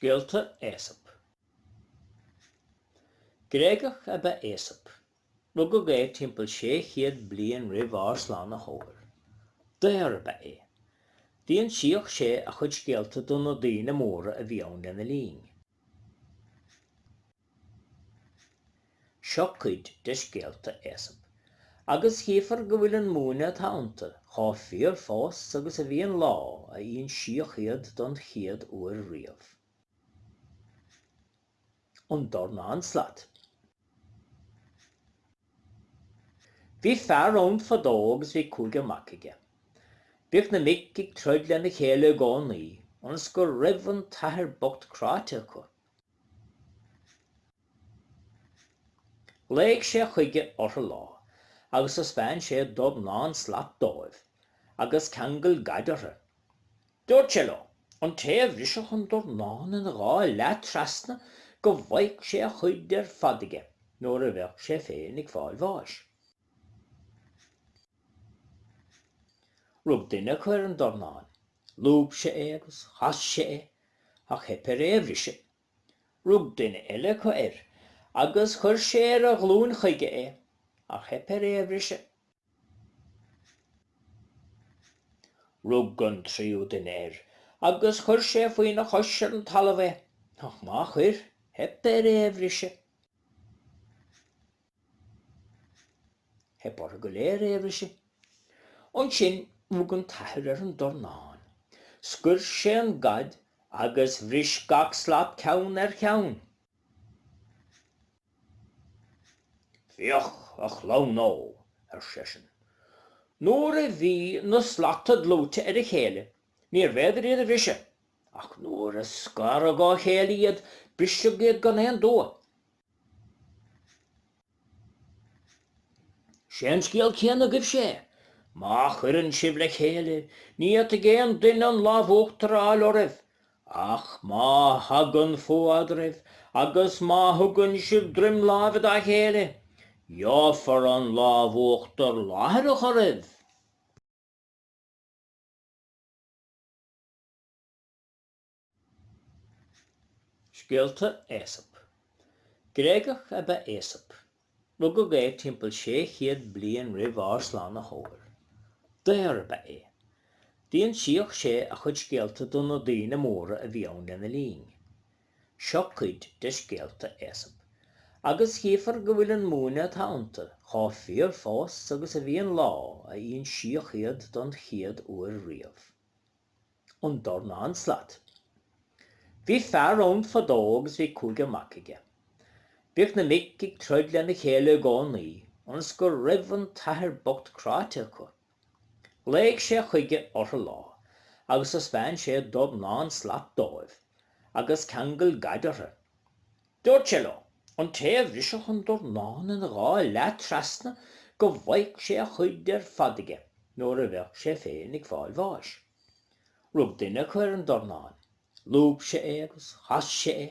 Scéalta Aesop. Gréagach ab ea Aesop. Rugadh é timpeall 600 bliain roimh ár Slánaitheoir. Daor ab ea é. D'insíodh sé a chuid scéalta do na daoine móra a bhí ann lena linn. Seo cuid de scéalta Aesop, agus chífar go bhfuil an múineadh atá iontu chomh fíor fós agus a bhí an lá a insíodh iad don chéad uair riamh. An Dornán Slat. Bhí fear ann fadó agus bhí cúigear mac aige. Bhíodh na mic ag troid lena chéile i gcónaí, ionas go raibh an t-athair bocht cráite acu Ghlaoidh sé chuige ortha lá agus thaisbeáin sé dornán slat dóibh agus ceangal gaid ortha. Dúirt sé leo, an té a bhrisfeadh an dornán ina dhá leath trasna go bhfaghadh sé a chuid ar fad aige nuair a bheadh sé féin ag fáil bháis. Rug duine acu ar an dornán Lúb sé é agus chas sé é, ach theip air é a bhriseadh. Rug duine eile acu air agus chuir sé ar a ghlúin chuige é, ach theip air é a bhriseadh. Rug an tríú duine air agus chuir sé faoina chois ar an talamh é, ach má chuir, theip air é a bhriseadh. Theip orthu go léir é a bhriseadh. Ansin rug an t-athair ar an dornán. Scoir sé an gad agus bhris gach slat ceann ar cheann. Féach, a chlann ó! ar seisean. Nuair a bhí na slata dlúite ar a chéile, níorbh fhéidir iad a bhriseadh, ach nuair a scaradh ó chéile iad, briseadh iad gan aon dua. Sé an scéal céanna agaibhse é. Má chuireann sibh le chéile, ní fhéadfaidh aon duine an lámh uachtair a fháil oraibh, ach má thagann fuath eadraibh agus má thugann sibh droim láimhe dá chéile, gheofar an lámh uachtair láithreach oraibh. Scéalta Aesop. Gréagach ab ea Aesop. Rugadh é timpeall 600 bliain roimh ár Slánaitheoir. Daor ab ea é. D'insíodh sé a chuid scéalta do na daoine móra a bhí ann lena linn. Seo cuid de scéalta Aesop, agus chífar go bhfuil an múineadh atá iontu chomh fíor fós agus a bhí an lá a insíodh iad don chéad uair riamh. an dornán slat. Bhí fear ann fadó agus bhí cúigear mac aige. Bhíodh na mic ag troid lena chéile i gcónaí ionas go raibh an t-athair bocht cráite acu. Ghlaoigh sé chuige orthu lá agus thaispeáin sé dornán slat dóibh agus ceangal gad orthu. Dúirt sé leo, an té a bhrisfeadh an dornán ina dhá leath trasna go bhfaigheadh sé a chuid ar fad uaidh nuair a bheadh sé féin ag fáil bháis. Rug duine acu ar an dornán, lúb sé é agus chas sé é,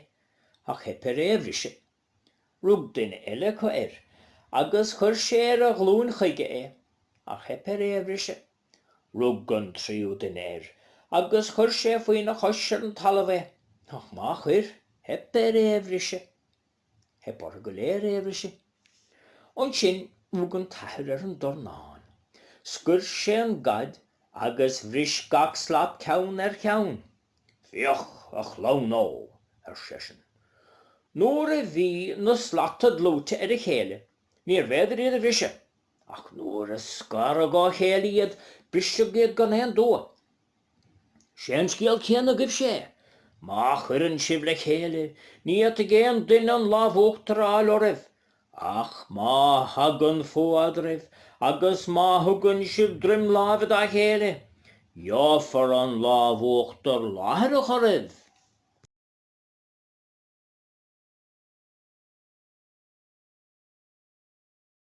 ach theip air é a bhriseadh. Rug duine eile acu air agus chuir sé ar a ghlúin chuige é, ach theip air é a bhriseadh. Rug an tríú duine air agus chuir sé faoina chois ar an talamh é, ach má chuir, theip air é a bhriseadh. Theip orthu go léir é a bhriseadh. Ansin rug an t-athair ar an dornán. Scoir sé an gad agus bhris gach slat ceann ar cheann. Féach, a chlann ó! ar seisean. Nuair a bhí na slata dlúite ar a chéile, níorbh fhéidir iad a bhriseadh. Ach nuair a scaradh ó chéile iad, briseadh iad gan aon dua. Sé an scéal céanna agaibhse é. Má chuireann sibh le chéile, ní fhéadfaidh aon duine an lámh uachtair a fháil oraibh, ach má thagann fuath eadraibh, agus má thugann sibh droim láimhe dá chéile, gheofar an lámh uachtair láithreach oraibh.